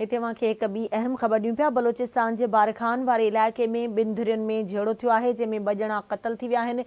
هتي اوهان کي هڪ ٻي اهم خبر ڏيون پيا، بلوچستان جي بارکان واري علائقي ۾ ٻن ڌرين ۾ جهيڙو ٿيو آهي، جنهن ۾ ٻه ڄڻا قتل ٿي ويا آهن،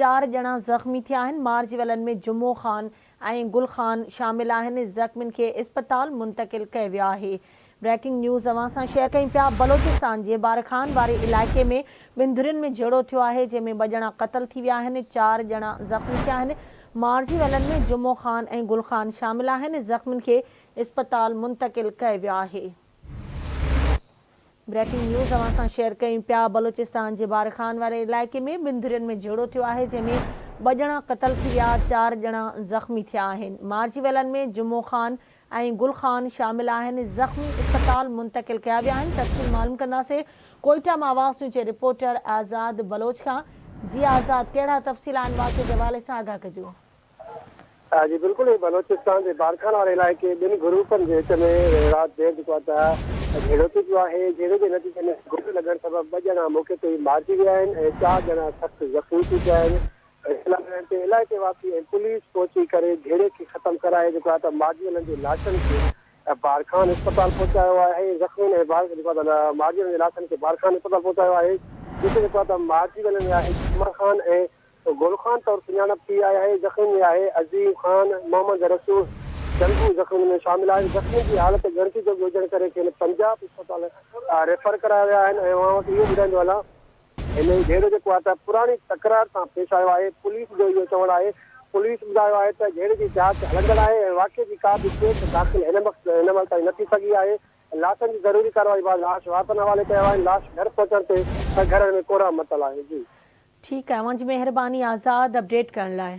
چار ڄڻا زخمي ٿيا آهن، مارجي ويلن ۾ جمعو خان ۽ گل خان شامل آهن، زخمين کي اسپتال منتقل ڪيو ويو آهي. بريڪنگ نيوز اوهان سان شيئر ڪيون پيا، بلوچستان جي بارکان واري علائقي ۾ ٻن ڌرين ۾ جهيڙو ٿيو آهي، جنهن ۾ ٻه ڄڻا قتل ٿي ويا آهن، چار ڄڻا زخمي ٿيا آهن، مارجي ويلن ۾ جمعو خان ۽ گل خان شامل آهن، زخمين کي اسپتال منتقل ڪئي ويو آهي. بريڪنگ نيوز اوهان سان شيئر ڪيون پيا بلوچستان جي بارخان واري علائقي ۾ ٻن ڌرين ۾ جهيڙو ٿيو آهي جنهن ۾ ٻه ڄڻا قتل ٿي ويا چار ڄڻا زخمي ٿيا آهن مارجي ويلن ۾ جمعو خان ۽ گل خان شامل آهن زخمي اسپتال منتقل ڪيا ويا آهن تفصيل معلوم ڪنداسي ڪوئيٽا مان آواز نيوز جي رپورٽر آزاد بلوچ کان جي آزاد ڪهڙا تفصيل آهن واقعي جي حوالي سان آگاهه ڪجو. جي بلڪل ائين بلوچستان جي بارکان واري علائقي ٻن گروپن جي وچ ۾ رات دير جيڪو آهي ته جهيڙو ٿي پيو آهي جهيڙي جي نتيجي ۾ گوليون لڳڻ سبب ٻه ڄڻا موقعي تي ئي مارجي ويا آهن ۽ چار ڄڻا سخت زخمي ٿي پيا آهن اطلاع ملڻ تي علائقي واسي ۽ پوليس پهچي ڪري جهيڙي کي ختم ڪرائي جيڪو آهي ته مارجيلن جي لاشن کي بارکان اسپتال پهچايو آهي زخمين ۽ جيڪو آهي ته مارجيلن جي لاشن کي بارکان اسپتال پهچايو آهي جتي جيڪو آهي ته مارجي ويلن ۾ آهي جمعه خان ۽ گل خان طور سڃاڻپ ٿي آهي اهي زخمين ۾ آهي عظيم خان، محمد رسول جنگو زخمين ۾ شامل آهن، زخمين جي حالت ڳڻتي جوڳي هجڻ ڪري کين پنجاب اسپتال ريفر ڪرايو ويا آهن ۽ اوهان وٽ اهو ٻڌائيندو هلان. هن هي جهيڙو جيڪو آهي ته پراڻي تڪرار سان پيش آيو آهي، پوليس جو اهو چوڻ آهي، پوليس ٻڌايو آهي ته جهيڙي جي جاچ هلندڙ آهي ۽ واقعي جي ڪا به ڪيس داخل هن وقت هن مهل تائين نه ٿي سگهي آهي، لاشن جي ضروري ڪارروائي بعد لاش وارثن حوالي ڪيو آهن لاش گهر پهچڻ تي ته گهرن ۾ ڪورهه متل آهي جي. ٺيڪ آهي اوهان جي مهرباني آزاد اپڊيٽ ڪرڻ لاء.